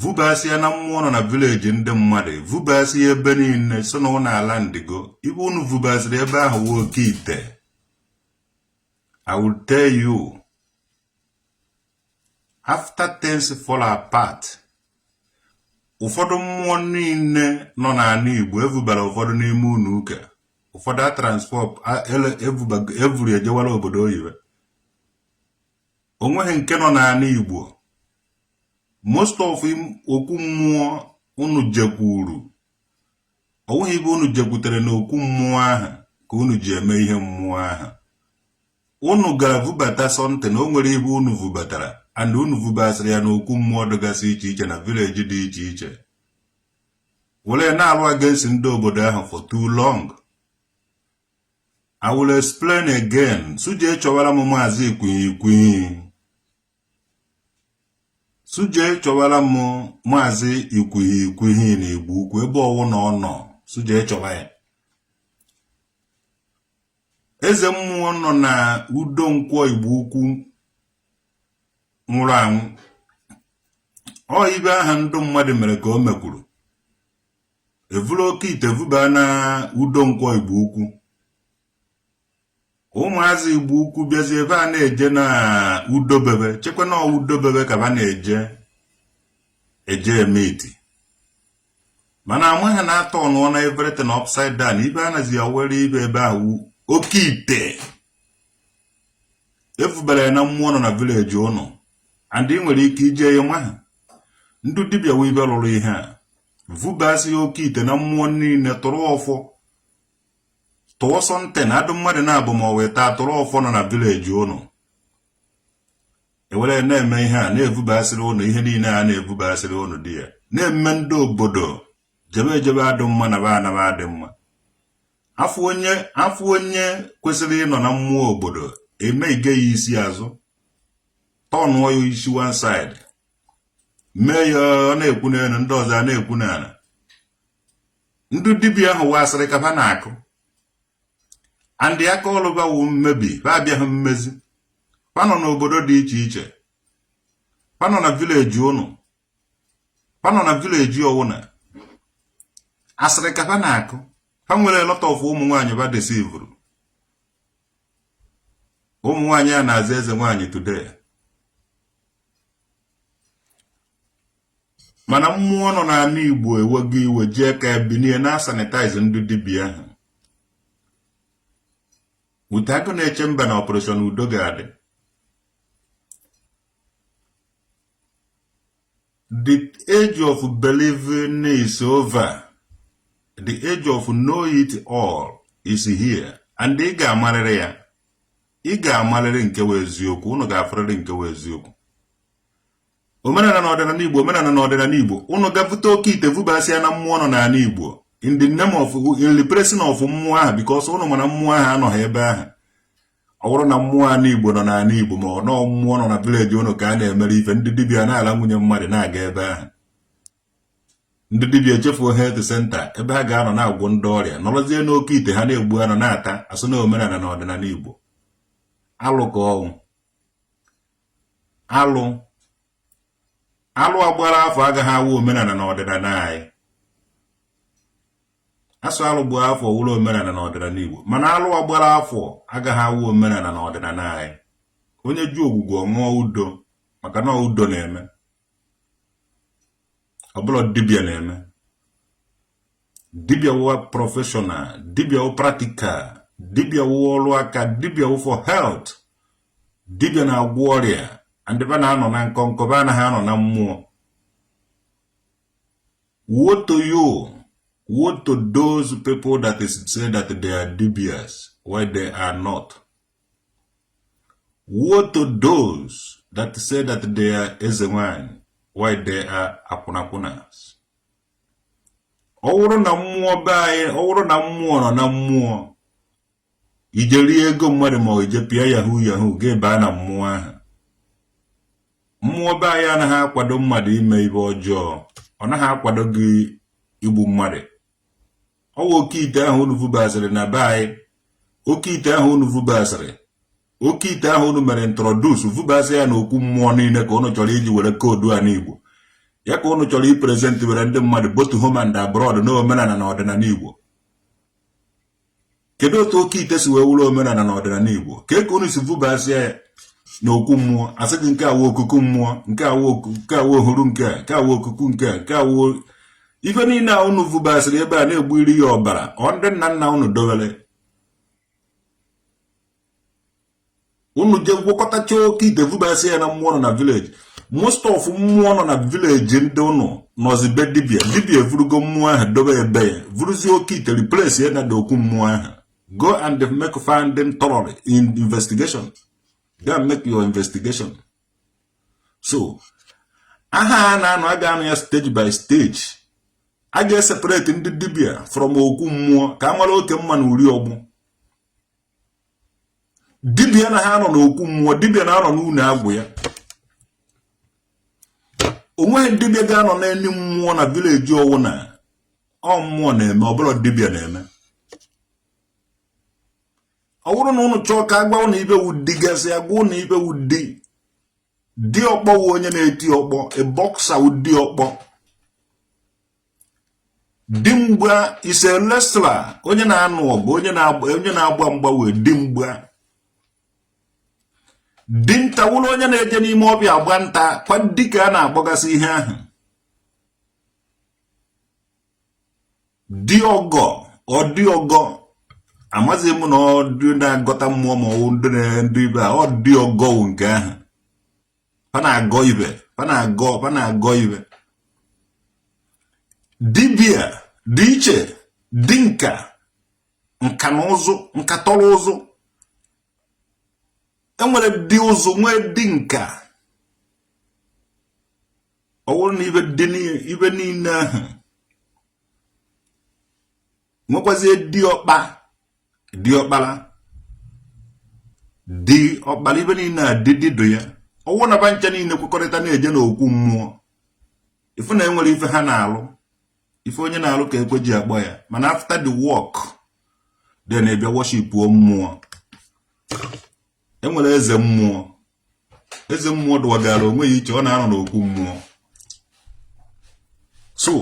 vubasịa na mmụọ nọ na village ndị mmadụ vubasịa ebe niile so na ụnọ ala Ndigbo ibe unu vubasịrị ebe ahụ wụ oke ite I will tell you after things fall apart ụfọdụ mmụọ niile nọ n'ala Igbo evubara ụfọdụ n'ime ụnọ ụka ụfọdụ a transport evuru ejewara obodo oyibo o nweghị nke nọ n'ala Igbo most of okwu mmụọ unu jekwuru o nweghị ibe unu jekwutere na okwu mmụọ ahụ ka unu ji eme ihe mmụọ ahụ unu gara vubata something o nwere ibe unu vubatara and unu vubasịrị ya n'okwu mmụọ dịgasị iche iche na village dị iche iche were na-alụ against ndị obodo ahụ for too long I will explain again. So je chọwara m maazị Ikwuhi so je chọwara m maazị Ikwuhi Ikwuhi na Igbo Ukwu ebe ọwụna ọ nọ so je chọwa ya. Eze mmụọ nọ na Udo Nkwọ Igbo Ukwu nwụrụ anwụ. Ọ ibe aha ndụ mmadụ mere ka o mekwuru. evuru oke ite vubaa na Udo Nkwọ Igbo Ukwu ụmụazị Igbo Ukwu bịazi ebe a na-eje na udobebe chekwa na udobebe ka ba na-eje eje eme iti mana amaghị na atọnụọna everything upside down ibe anazi ya were ibe ebe ahụ oke ite evubara na mmụọ nọ na village ụnụ and ị nwere ike ije ya maha ndị dibịa wee ibe lụrụ ihe a vubasịa oke ite na mmụọ niile tụrụ ọfọ tụọ something adụ mmadụ na-abụ ma ọ wee taa tụrụ ọfọ nọ na village ụnụ ewere na-eme ihe a na-evubasịrị ụnụ ihe niile a na-evubasịrị ụnụ dị ya na-eme ndị obodo jebe ejebe adụ mma naba anaba adị mma a fụ onye a fụ onye kwesịrị ịnọ na mmụọ obodo eme ige ya isi azụ tọnụọ ya isi one side mee ya ọ na-ekwu n'elu ndị ọzọ a na-ekwu n'ala ndị dibịa ahụ wa asịrị ka ha na-akụ and aka ọrụ ba wụ mmebi ha abịaghị mmezi ha nọ n'obodo dị iche iche ha nọ na village ụnụ ha nọ na village ọwụna asịrị ka ha na-akụ ha nwere lot of ụmụ nwaanyị ba deceivuru ụmụ nwaanyị a na-aza eze nwaanyị today mana mmụọ nọ n'ala Igbo ewego iwe jee ka ebinie na-asanitize ndị dibịa ahụ with Agụnechemba na operation udo ga-adị the age of believing is over the age of know it all is here and ị ga-amarịrị ya ị ga-amalịrị nke wụ eziokwu ụnụ ga-afụrịrị nke wụ eziokwu omenala na ọdịnala igbo omenala na ọdịnala igbo ụnụ gaa vuta oke ite vubasịa na mmụọ nọ n'ala igbo in the name of in the presence of mmụọ ahụ because ụnụ ma na mmụọ ahụ anọghị ebe ahụ ọ wụrụ na mmụọ ala igbo nọ n'ala igbo ma ọ nọ mmụọ nọ na village ụnụ ka a na-emere ife ndị dibịa na-ala nwunye mmadụ na-aga ebe ahụ ndị dibịa echefuo health center ebe ha ga-anọ na-agwọ ndị ọrịa nọrọzie n'oke ite ha na-egbu anụ na-ata asụ na omenala na ọdịnala Igbo alụ ka ọ wụ alụ alụ agbara afọ agaghị awụ omenala na ọdịnala anyị asụ alụ gbaa afọ wụrụ omenala na ọdịnala Igbo mana alụ agbara afọ agaghị awụ omenala na ọdịnala anyị onye jụ Ogwugwu ọ ṅụọ Udo maka na Udo na-eme ọ bụrụ dibịa na-eme dibịa wụ professional dibịa wụ practical dibịa wụ ọrụ aka dibịa wụ for health dibịa na-agwọ ọrịa and ba na-anọ na nkọnkọ ba anaghị anọ na mmụọ woe to you woe to those people that say that they are dibịas while they are not Woe to those that say that they are Ezenwanyị while they are akwụnakwụnas. Ọ wụrụ na mmụọ be anyị, ọ wụrụ na mmụọ nọ na mmụọ, ije rie ego mmadụ ma ije pịa yahoo yahoo gaa ebe a na mmụọ ahụ. Mmụọ be anyị anaghị akwado mmadụ ime ife ọjọọ, ọ naghị akwado gị igbu mmadụ. ọwa oke ite ahụ unu vubasịrị na be anyị oke ite ahụ unu vubasịrị oke ite ahụ unu mere introduce vubasị ya na okwu mmụọ niile ka unu chọrọ iji were koodu a n'igbo ya ka unu chọrọ ipresent were ndị mmadụ both home and abroad na omenala na ọdịnala igbo kedu otu oke ite si wee wụrụ omenala na ọdịnala Igbo kee ka unu si vubasịa ya na okwu mmụọ asị gị nke a wụ okuku mmụọ nke a wụ nke a wụ ohuru nke a nke a wụ okuku nke a nke a wụ ife niile a unu vubasịrị ebe a na-egbuyiri ya ọbara ọ ndị nna nna unu dowere unu je gwakọtacha oke ite vubasị ya na mmụọ nọ na village most of mmụọ nọ na village ndị ụnụ nọzi be dibia dibia evurugo mmụọ ahụ dobe be ya vuruzie oke ite replace ya na okwu mmụọ ahụ go and make finding thoroughly in investigation go and make your investigation so aha a na-anụ a ga-anụ ya stage by stage a ga-eseparate ndị dibia from okwu mmụọ ka a mara oke mma na uri ọgbụ dibịa anaha anọ n'okwu mmụọ dibịa na-anọ n'ụnọ agwụ ya onweghị dibịa ga-anọ n'enu mmụọ na village ọwụ na ọ mmụọ na-eme ọ bụla dibịa na-eme ọ bụrụ na ụnụ chọọ ka agwa ụnụ ibe wu di gasị agwa ụnụ ibe wu di di ọkpọ wu onye na-eti ọkpọ a boxer wu di ọkpọ dimgba is a wrestler onye na-anụ ọgụ onye na-agba mgba wu dimgba dinta wụrụ onye na-eje n'ime ọbịa agba nta kwa dịka a na-agbagasị ihe ahụ di ọgọ ọ di ọgọ amazị m na ọ ndị na-agọta mmụọ ma ọ bụ ndị dibia ọ di ọgọ nke ahụ fa na-agọ ibe fa na-agọ fa na-agọ ibe dibia dị iche di nka nka na ụzụ nka tọrọ ụzụ enwere di ụzụ nwee di nka ọ bụrụ na ibe niile ahụ nwekwazie diọkpa diọkpara diọkpara ibe niile a di dịdụ ya ọwụ na ba ncha niile kwekọrịta na-eje n'okwu mmụọ ị fụ na enwere ife ha na-alụ ife onye na-alụ ka ekwe ji akpọ ya mana after the work then ebịa worship mmụọ enwere eze mmụọ eze mmụọ dụwagara onwe ya iche ọ na-anọ n'okwu mmụọ so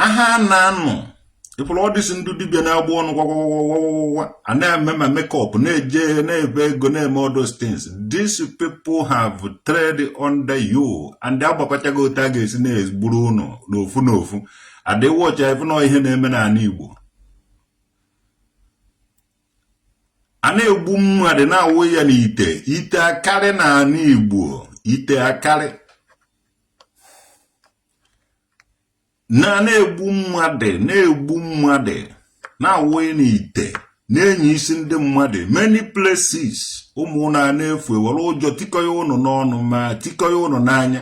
aha a na-anụ ị fụrụ all these ndị dibịa na-agba ọnụ gwagwagwagwagwa a na-eme ma makeup na-eje na-ebe ego na-eme all those things these people have trade under you and agbakọchago otu a ga-esi na-egburu ụnụ n'ofu n'ofu adịwọcha ife na ihe na-eme n'anị Igbo a na-egbu mmadụ na-awụ ya n'ite ite akarị na anị igbo ite akarị na na-egbu mmadụ na-egbu mmadụ na-awụ ya n'ite na-eni isi ndị mmadụ many places ụmụ ụnụ a na-efu ewere ụjọ tikọ ya ụnụ n'ọnụ ma tikọ ya ụnụ n'anya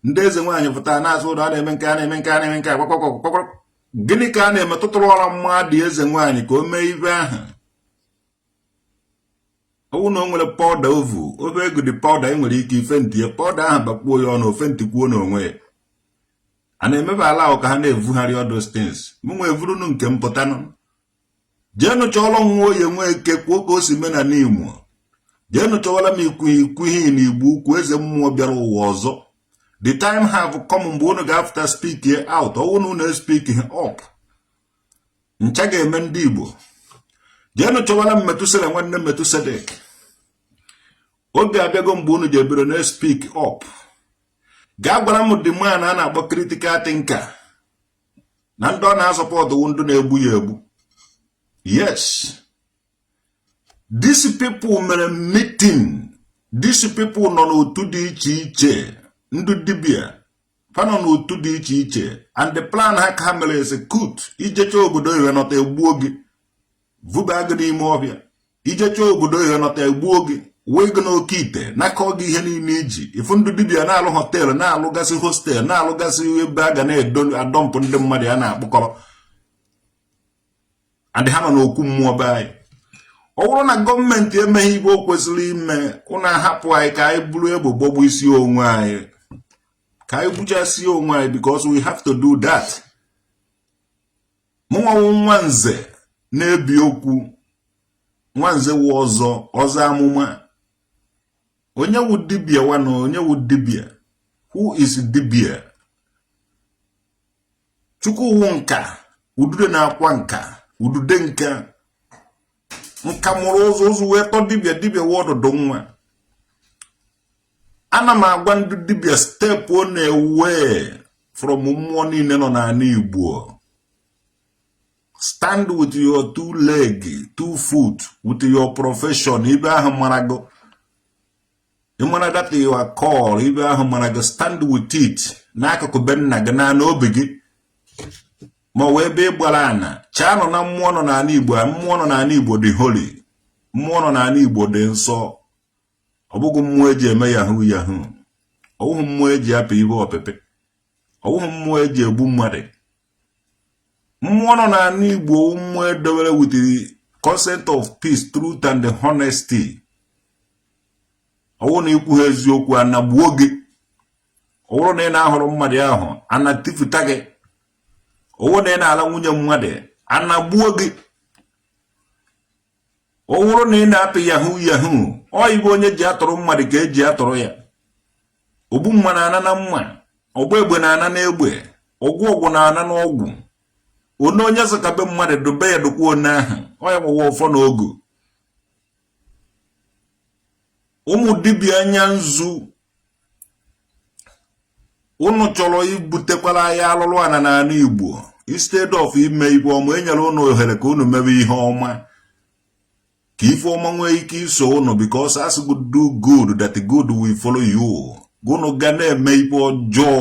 ndị eze nwaanyị pụtara na-asụ ude a na-eme nke a na-eme nke a na-eme nke a gịnị ka a na-emetụtara ọra mmadụ eze nwaanyị ka o mee ibe ahụ ọwụ na o nwere pọda ovu ofe ego dị pọda e nwere ike ife ntinye pọda ahụ bakpuo ya ọnụ ofe ntikwuo n'onwe ya a na-emebe ala ahụ ka ha na-evugharị all those things mụnwa evurunu nke m pụtanụ jeenụ chọọrọ m nwoye nweke kwuo ka o si mee na Nimo jeenụ chọwara m ikwu ikwu ihe na igbo ukwu eze mmụọ bịara ụwa ọzọ the time have come mgbe unu ga-afụta speakie out ọwụ na unu espik up ncha ga-eme ndị igbo jeenụ chọwara m metusela nwanne metusedek oge abịago mgbe unu ji ebere na espik up gaa gwara m the man a na-akpọ critical thinker na ndị ọ na-asupọtụ wụ ndị na-egbu ya egbu yes these people mere meeting these people nọ n'otu dị iche iche ndị dibia fa nọ n'otu dị iche iche and the plan ha ka ha mere execute ijecha obodo oyibo nọta egbuo gị vuba gị n'ime ọhịa ijecha obodo oyibo nọta egbuo gị wee gị n'oke ite nakọ gị ihe niile iji ifu ndị dibia na-alụ họteelụ na-alụgasị hostel na-alụgasị ebe a ga na-adọmpụ ndị mmadụ a na-akpụkọrọ and ha nọ n'okwu mmụọ be anyị ọ bụrụ na gọọmenti emeghị ibe o kwesịrị ime ụnụ ahapụ anyị ka anyị buru egbe gbagbusie onwe anyị ka anyị gbuchasie onwe anyị because we have to do that mụnwa wụ nwa nze na-ebi okwu nwa nze wụ ọzọ ọzọ amụma onye wụ dibia wanụ onye wụ dibia who is dibia chukwu wụ nka udude na-akwa nka udude nka nka mụrụ ụzọ ụzọ wee tọ dibia dibia wụ ọdụdụ nwa ana m agwa ndị dibịa stepụnụ away from mmụọ niile nọ n'ala Igbo stand with your two leg two foot with your profession ibe ahụ mara gị ịmara that you are called ibe ahụ mara gị stand with it n'akụkụ be nna gị na n'obi gị ma ọ wụ ebe ị gbara ana chaa nọ na mmụọ nọ n'ala Igbo mmụọ nọ n'ala Igbo dị holy mmụọ nọ n'ala Igbo dị nsọ ọ bụghị mmụọ eji eme yahoo yahoo ọ bụghị mmụọ eji apị ibe ọpịpị ọ bụghị mmụọ eji egbu mmadụ mmụọ nọ n'ana igbo wụ mmụọ edobere with the concept of peace truth and honesty ọwụ na ikwuhọ eziokwu ana egbuo gị ọwụrụ na ị na-ahụrụ mmadụ ahụ ana etifuta gị ọwụ na ị na-ala nwunye mmadụ ana egbuo gị ọ wụrụ na ị na-apị yahoo yahoo ọ ibe onye ji atụrụ mmadụ ka eji atụrụ ya ogbu mma na-ana na mma ọgba egbe na-ana na egbe ọgwọ ọgwụ na-ana na ọgwụ onye onye zụkabe mmadụ dobe ya dokwa onye ahụ ọ ya gbawa ọfọ na ogu ụmụ dibịa anya nzu ụnụ chọrọ ibutekwara anyị alụlụ ana n'ala Igbo instead of ime ibe ọma enyere ụnụ ohere ka ụnụ mebe ihe ọma ka ife ọma nwee ike iso ụnụ because as you do good that good will follow you ụnụ ga na-eme ibe ọjọọ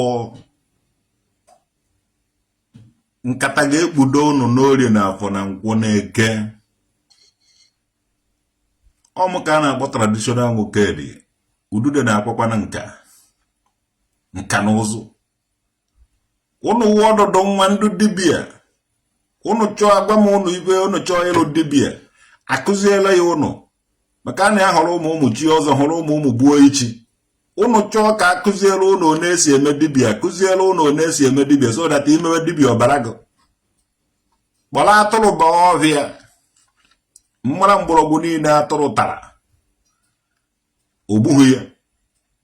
nkata ga-ekpudo ụnụ n'orie na afọ na nkwọ na eke ọ mụ ka a na-akpọ traditional nwoke dị udude na-akwa akwa na nka nka na ụzụ ụnụ wụ ọdụdụ nwa ndị dibia ụnụ chọọ agwa m ụnụ ibe ụnụ chọọ ịlụ dibia akụziela ya ụnụ maka ana hụrụ mụ mụ chie ọzọ hụrụ mụ mụ gbuo ichi ụnụ chọọ ka akụziela ụnụ one esi eme dibia akụziela ụnụ one esi eme dibia so that imewe dibia ọ baara gị kpọrọ atụrụ ba ọhịa mara mgbọrọgwụ niile atụrụ tara o gbughị ya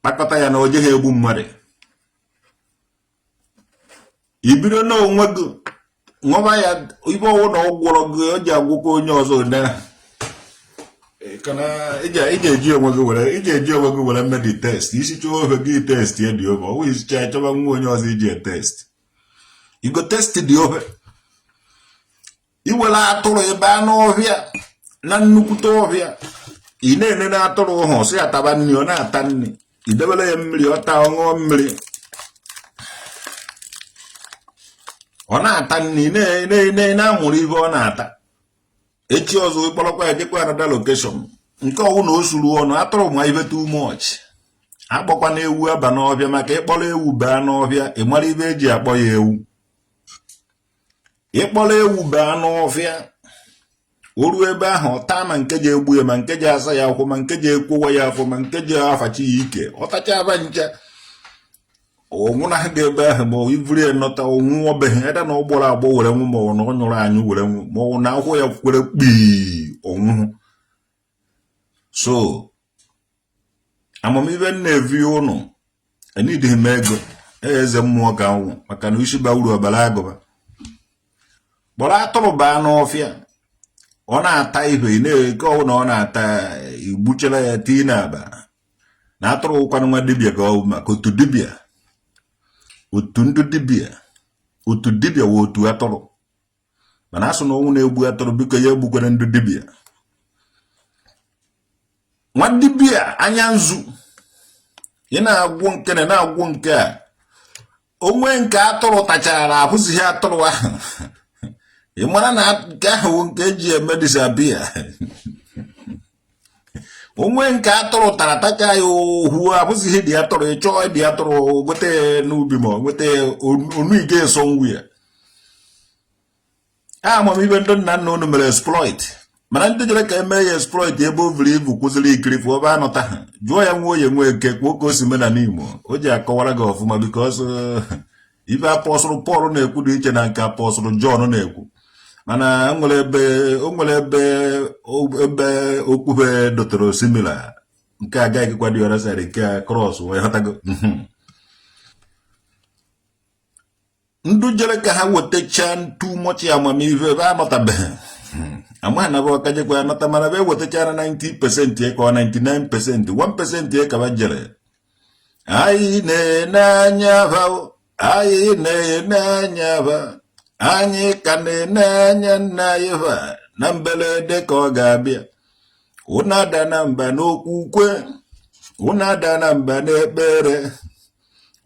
kpakọta ya na o jeghị egbu mmadụ ibido na onwe gị nwaba ya ibe ọwụ na ọ gwọrọ gị o ji agwọkwu onye ọzọ maka na iji eji onwe gị were mee the test isichaa ofe gị testịa the ofe ọwụ isichaa chọwa nwa onye ọzọ iji test you go test the ofe iwere atụrụ baa n'ọhịa na nnukwute ọhịa ị na-ene na atụrụ ụhụ sị ya taba nri ọ na-ata nri idebere ya mmiri ọ taa ọ ṅụọ mmiri ọ na-ata nri ị na-amụrụ ihe ọ na-ata echi ọzọ ịkpọrọkwa ya jekwa another location nke ọwụ na o suru ọnụ atụrụ ma ibe too much akpọkwana ewu aba n'ọhịa maka ịkpọrọ ewu baa n'ọhịa ị mara ibe eji akpọ ya ewu ịkpọrọ ewu baa n'ọfịa o ruo ebe ahụ ọ taa ma nke ji egbu ya ma nke ji asa ya akwụ ma nke ji ekwowa ya afọ ma nke ji afachi ya ike ọ tacha aba ncha ọ nwụnaha gị ebe ahụ ma iburu ya nọta ọ nwụọ be gị either na ọ gbọrọ agbọ were nwụ ma ọ na ọ nyụrụ anyụ were nwụ ma ọ na akwụ ya kwere kpii ọ nwụọ so amamihe m na-evi ụnụ anadịghị m ego eze mmụọ ka m wụ maka na isi ba uru ọ baara agụba kpọrọ atụrụ baa n'ọfịa ọ na-ata ibe nke ọwụ na ọ na-ata igbuchara ya tii na akpa na atụrụ wụkwanụ nwa dibịa ka ọ bụ maka otu dibịa otu ndị dibịa otu dibịa wụ otu atụrụ mana a sị na ọnwụ na-egbu atụrụ biko ya egbukwere ndị dibịa nwa dibịa anya nzu ị na-agwọ nke na na-agwọ nke a o nwe nke atụrụ tachara na abụzighị atụrụ ahụ ị mara na nke ahụ nke e ji eme disappear o nwe nke atụrụ tara tacha ya ohu abụzighị dị atụrụ ị chọọ dị atụrụ nweta n'ubi ma nweta onu ị ga-eso ngwu ya a amamihe ndị nna nna unu mere exploit mana ndị jere ka eme ya exploit ebe o buru ibu kwụsịrị ikiri fụ ebe anọta ha jụọ ya nwa onye nwe eke kwuo ka o si mena n'Igbo o ji akọwara gị ọfụma because uh, ibe apostle Paul na-ekwu dị iche na nke apostle John na-ekwu mana o nwere ebe ebe okpukpe dọtara osimiri nke agaghịkwa dị ọra nke a cross wee ghọtago ndị jere ka ha wetachaa too much amamihe ebe anọtabeghị hmm. amaghị na ba ka jekwa anọta mana be wetachara 90 percent ka ọ 99 percent 1 percent ka ba jere anyị na-ene anya ba anyị na-ene anya ba anyị ka na-ene anya nna anyị ba na mberede ka ọ ga-abịa unu adana mba n'okwukwe unu adana mba n'ekpere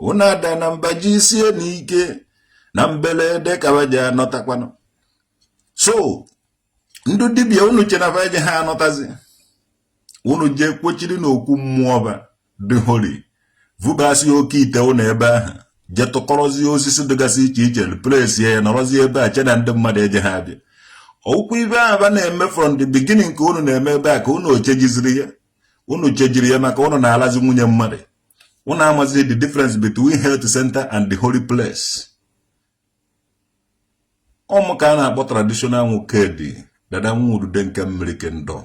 unu adana mba jisienụ ike na mbelede ka ba ji anọtakwanụ so ndị dibia unu che na fa eje ha anọtazi unu jee kpochiri n'okwu mmụọ ba dị holy vubasi oke ite unu ebe ahụ je tụkọrọzie osisi dịgasị iche iche place ya nọrọzie ebe a che na ndị mmadụ eje ha abịa ọ wụkwa ibe ahụ ba na-eme from the beginning ka unu na-eme ebe a ka unu chejiziri ya unu chejiri ya maka unu na-alazi nwunye mmadụ unu amazi the difference between health center and the holy place ọ mụ ka a na-akpọ traditional nwoke dị dada nwa udude nke mmiri kingdom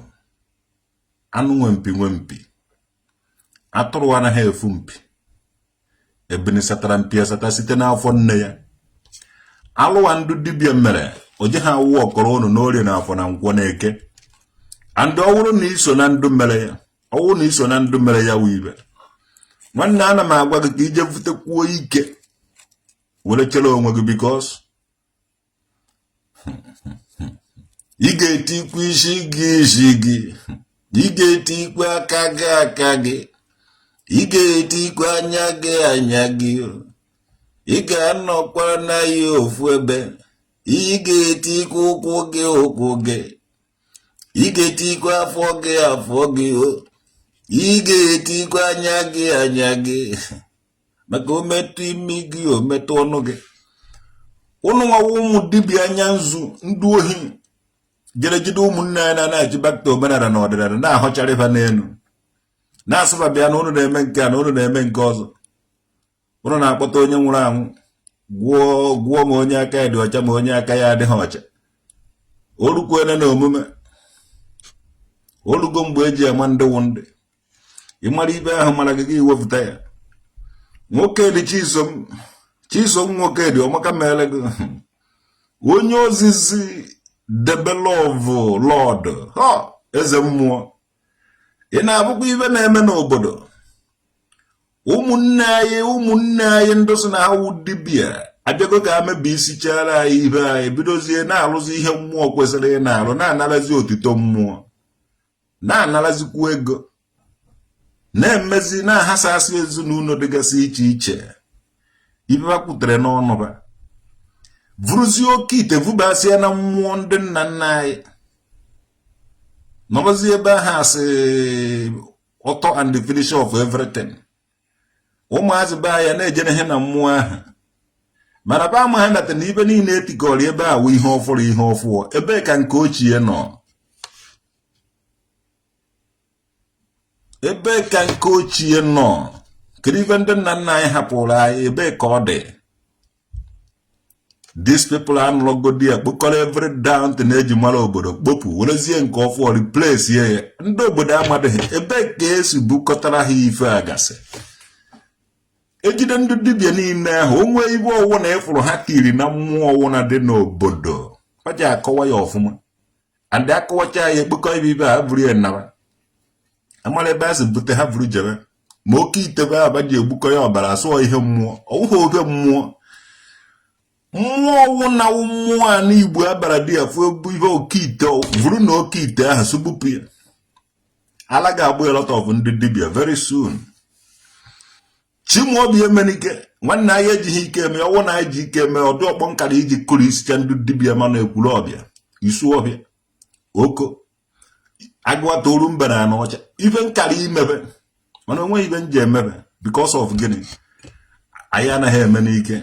anụ nwe mpi nwe mpi atụrụ anaghị efu mpi ebini satara mpi asata site n'afọ nne ya alụ a ndụ dibia mere o je ha awụ ọkọrọ unu n'orie na afọ na nkwọ na eke and ọ wụrụ na i so na ndụ mere ya ọ wụ na i so na ndụ mere ya wụ ibe nwanne ana m agwa gị ka i je butekwuo ike were chere onwe gị because ị ga-etikwu isi gị isi gị ị ga-etikwu aka gị aka gị ị ga-etikwu anya gị anya gị ị ga-anọkwa na ya ofu ebe ị ga-etikwu ụkwụ gị ụkwụ gị ị ga-etikwa afọ gị afọ gị o ị ga-etikwa anya gị anya gị maka o metụ imi gị o metụ ọnụ gị ụnụ nwa wụ ụmụ dibịa anya nzu ndị ohi jere jide ụmụnne anyị na na-achịbakọta omenala na ọdịnala na-ahọchara ife n'elu na-asụba bịa na ụnụ na-eme nke a na ụnụ na-eme nke ọzọ ụnụ na-akpọta onye nwụrụ anwụ gwụọ gwụọ ma onye aka ya dị ọcha ma onye aka ya adịghị ọcha o rukwele n'omume o rugo mgbe e ji ama ndị wụ ndị ị mara ibe ahụ mara gị ị wepụta ya nwoke dị chisom chisom nwoke dị ọmaka mere gị onye ozizi the beloved lord eze mmụọ ị na-abụkwa ibe na-eme n'obodo ụmụnne anyị ụmụnne anyị ndị sị na ha wụ dibịa abịago ka ha mebisịchara anyị ibe anyị bidozie na-arụzi ihe mmụọ kwesịrị ịna-arụ na-anarazi otito mmụọ na-anarazikwu ego na-emezi na-ahasasị ezinụlọ dịgasị iche iche ibe ha kwutere n'ọnụ ba vuruzie oke ite vubasịa na mmụọ ndị nna nna anyị nọrọzie ebe ahụ as author and the finisher of everything ụmụazị be ya na-ejere ihe na mmụọ ahụ mana ba ama ha nata na ibe niile e tikọrọ ebe a wụ ihe ọfụrụ ihe ọfụọ ebee ka nke ochie nọ ebe ka nke ochie nọ kedu ife ndị nna nna anyị hapụrụ anyị ebe ka ọ dị these people anụlọgodi ya kpokọrọ every damn thing e ji mara obodo kpopu werezie nke ọfụ replace ya ndị obodo amadịghị ebe ka e si bukọtara ha ife a ga-asị e jide ndị dibịa niile ahụ o nwee ibe ọwụna ị fụrụ ha tiri na mmụọ ọwụna dị n'obodo ọ ja-akọwa ya ọfụma and a kọwacha ya e kpokọ ibe ibe a buru ya naba a mara ebe e si bute ha buru jebe ma oke ite ebe ba ji egbukọ ya ọbara asụọ ihe mmụọ ọ wụghị obe mmụọ mmụọ ọwụna wụ mmụọ ana Igbo abara dị ya fụ ihe oke ite vuru na oke ite ahụ sụgbupụ ya ala ga-apụ a lot of ndị dibịa very soon Chimaobi Emenike nwanne anyị ejighị ike eme ọ wụ na anyị ji ike eme ọ dị ọkpọ m kara iji kụrisịcha ndị dibịa ma na Ekwulobia Isuofia Oko Aguata Orumba na Anaocha ife m kara imebe mana o nweghị ibe m ji emebe because of gịnị anyị anaghị eme n'ike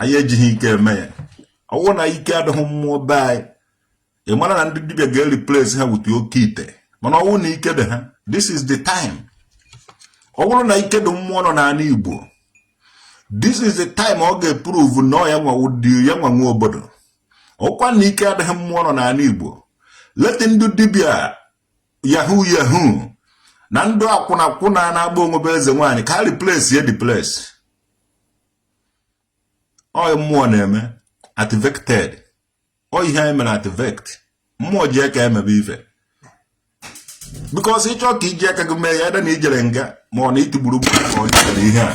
anyị ejighị ike eme ya ọ wụ na ike adịghị mmụọ be anyị ị mara na ndị dibia ga-ereplace ha with oke ite mana ọ wụrụ na ike dị ha this is the time ọ bụrụ na ike dị mmụọ nọ n'ala Igbo this is the time ọ ga-eprove na ọ ya nwanwụdi ya nwa nwe obodo ọ wụkwanụ na ike adịghị mmụọ nọ n'ala Igbo let ndị dibia yahoo yahoo na ndị akwụnakwụna na-agba onwe be eze nwaanyị ka replace ya the place ọ mmụọ na-eme activated ọ ihe anyị mere activate mmụọ ji aka emebe ife because ị chọọ ka i ji aka gị mee ya ede na i jere nga ma ọ na itigburu gburu ma ọ jere ihe a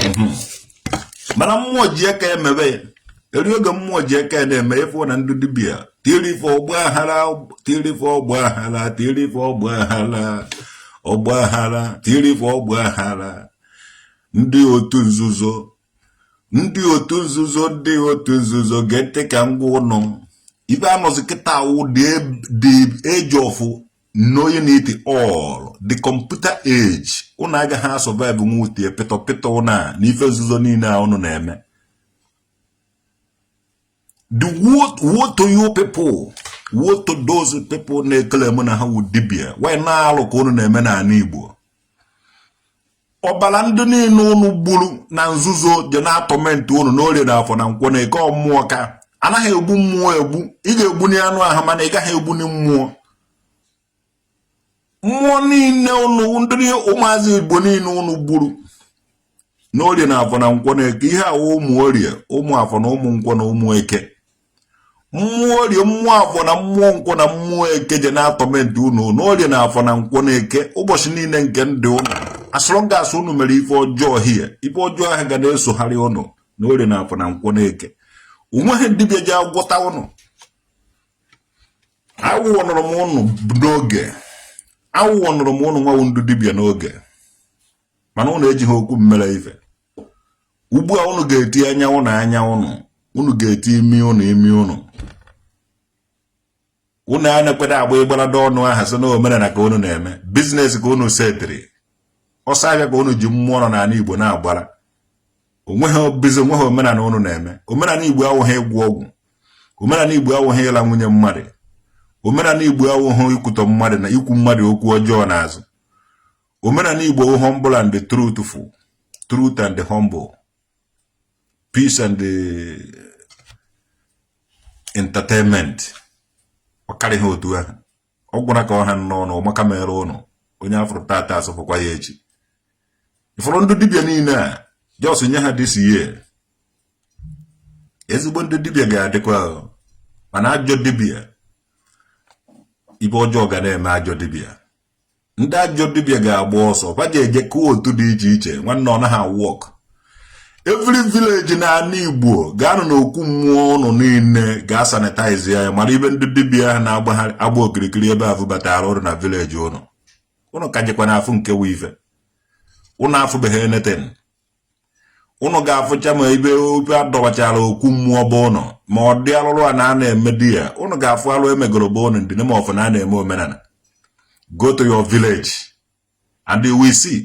mhm. mana mmụọ ji aka emebe ya eri oge mmụọ ji aka na-eme ị fụ na ndị dibia tiri ife ọgba aghara tiri ife ọgba aghara tiri ife ọgba aghara ọgba aghara tiri ife ọgba aghara ndị otu nzuzo ndị otu nzuzo ndị otu nzuzo ga-ete ka ngwa ụnụ ife a nọzi kịta wụ the age of knowing it all the computer age ụnụ agaghị asurvive nwutie pịtọ pịtọ ụnụ na ife nzuzo niile a ụnụ na-eme the woe to you people woe to those people na-eclaim na ha wụ dibia while na alụ ka ụnụ na-eme n'ala Igbo ọbara ndị niile ụnụ gburu na nzuzo je na-atorment ụnụ n'orie na afọ na nkwọ na eke ọ mmụọ ka anaghị egbu mmụọ egbu ị ga-egbuni anụ ahụ mana ị gaghị egbuni mmụọ mmụọ niile ụnụ ndị ụmụazị igbo niile ụnụ gburu n'orie na afọ na nkwọ na eke ihe a wụ ụmụ orie ụmụ afọ na ụmụ nkwọ na ụmụ eke mmụọ orie mmụọ afọ na mmụọ nkwọ na mmụọ eke je na-atorment unu n'orie na afọ na nkwọ na eke ụbọchị niile nke ndụ ụnụ as long as unu mere ife ọjọọ hie ife ọjọọ ahụ ga na-esogharị ụnụ n'orie na afọ na nkwọ na eke onweghị dibịa ja-agwọta ụnụ awarnụrụ m ụnụ n'oge awarnụrụ m ụnụ nwa wụ ndị dibịa n'oge mana ụnụ ejighị okwu m mere ife ugbu a unu ga-eti anya ụnụ anya ụnụ unu ga-eti imi ụnụ imi ụnụ unu a na-ekweda agba ịgbarada ọnụ aha sị na omenala ka unu na-eme business ka unu setịrị ọsọ ahịa ka unu ji mmụọ nọ n'ala igbo na-agbara onweghị bizi onweghị omenala unu na-eme omenala igbo awụghị ịgwọ ọgwụ omenala igbo awụghị ịla nwunye mmadụ omenala igbo awụghị ikwutọ mmadụ na ikwu mmadụ okwu ọjọọ n'azụ omenala Igbo bụ humble and truthful truth and humble peace and eh, entertainment ọ karịghị otu ahụ ọ gwụna ka ọ ha n'ọnụ maka mere ụnụ onye a fụrụ tata asọfụkwa ya echi ị fụrụ ndị dibịa niile a just nye ha this year ezigbo ndị dibịa ga-adịkwa mana ajọ dibịa ife ọjọọ ga na-eme ajọ dibịa ndị ajọ dibia ga-agba ọsọ fa ga-eje kụọ otu dị iche iche nwanne ọ naghị work every village n'ala Igbo gaanụ n'okwu mmụọ ụnụ niile gaa sanitize ya mara ife ndị dibia ahụ na-agbagharị agba okirikiri ebe ahụ batara ọrụ na village ụnụ ụnụ ka jekwa na-afụ nke wụ ife ụnụ afụbeghị anything ụnụ ga-afụcha ma ebe ofe a dọbachara okwu mmụọ be ụnụ ma ọ dị alụrụ ana a na-eme di ya ụnụ ga-afụ alụ e megoro be ụnụ in the name of na a na-eme omenala go to your village and you will see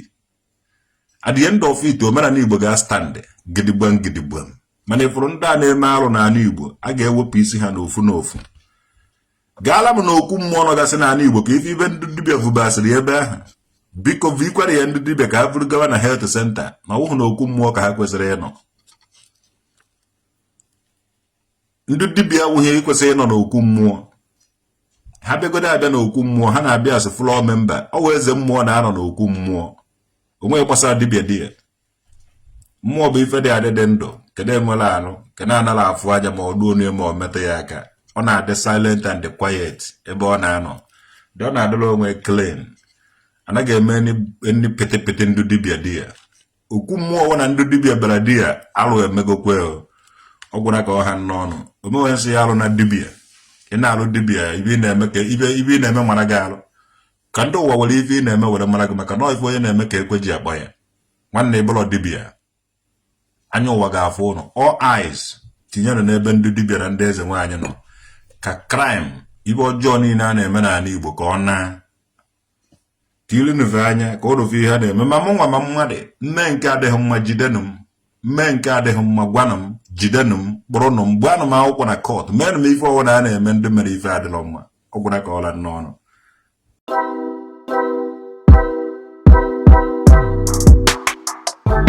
at the end of it omenala igbo ga-astand gidigbam gidigbam mana ị fụrụ ndị a na-eme arụ n'ala igbo a ga-ewepụ isi ha n'ofu n'ofu gaala m na okwu mmụọ nọgasị n'ala Igbo ka ị fụ ife ndị dibịa vubasịrị ebe ahụ biko vikwara ya ndị dibịa ka ha vuru gawa na health center na ọ wụhụ na okwu mmụọ ka ha kwesịrị ịnọ ndị dibịa awụghị kwesịrị ịnọ n'okwu mmụọ ha bịagodo abịa n'okwu mmụọ ha na-abịa as floor member ọ wụ eze mmụọ na-anọ n'okwu mmụọ o nweghị gbasara dibịa di ya mmụọ bụ ife dị adị dị ndụ kedu enwere anụ kedu anara afụ aja ma ọ duo onye ma ọ metụ ya aka ọ na-adị silent and quiet ebe ọ na-anọ dị ọ na-adịla onwe clean a naghị eme ndị pịtịpịtị ndụ dibịa di ya okwu mmụọ ọ wụ na ndụ dibịa bịara di ya alụ emegokwe ọ gwụna ka ọ ha n'ọnụ omewe nsị ya alụ na dibịa ị na-alụ dibịa ife ị na-eme ka ife ị na-eme mara gị alụ ka ndị ụwa were ife ị na-eme were mara gị maka na ife onye na-eme ka ekwe ji akpọ ya nwanne ị bụlọ dibia anya ụwa ga-afụ ụnụ all eyes tinyere n'ebe ndị dibia na ndị eze nwaanyị nọ ka crime ife ọjọọ niile a na-eme n'ala Igbo ka ọ na tirinụve anya ka ụnụ fụ ihe a na-eme ma mụ nwa ma mmadụ m mee nke adịghị mma jidenụ m m mee nke adịghị mma gwanụ m jidenụ m kpụrụnụ m gbaanụ m akwụkwọ na court meenụ m ife ọ wụna a na-eme ndị mere ife adịrọ mma ọ gwụna ka ọ la n'ọnụ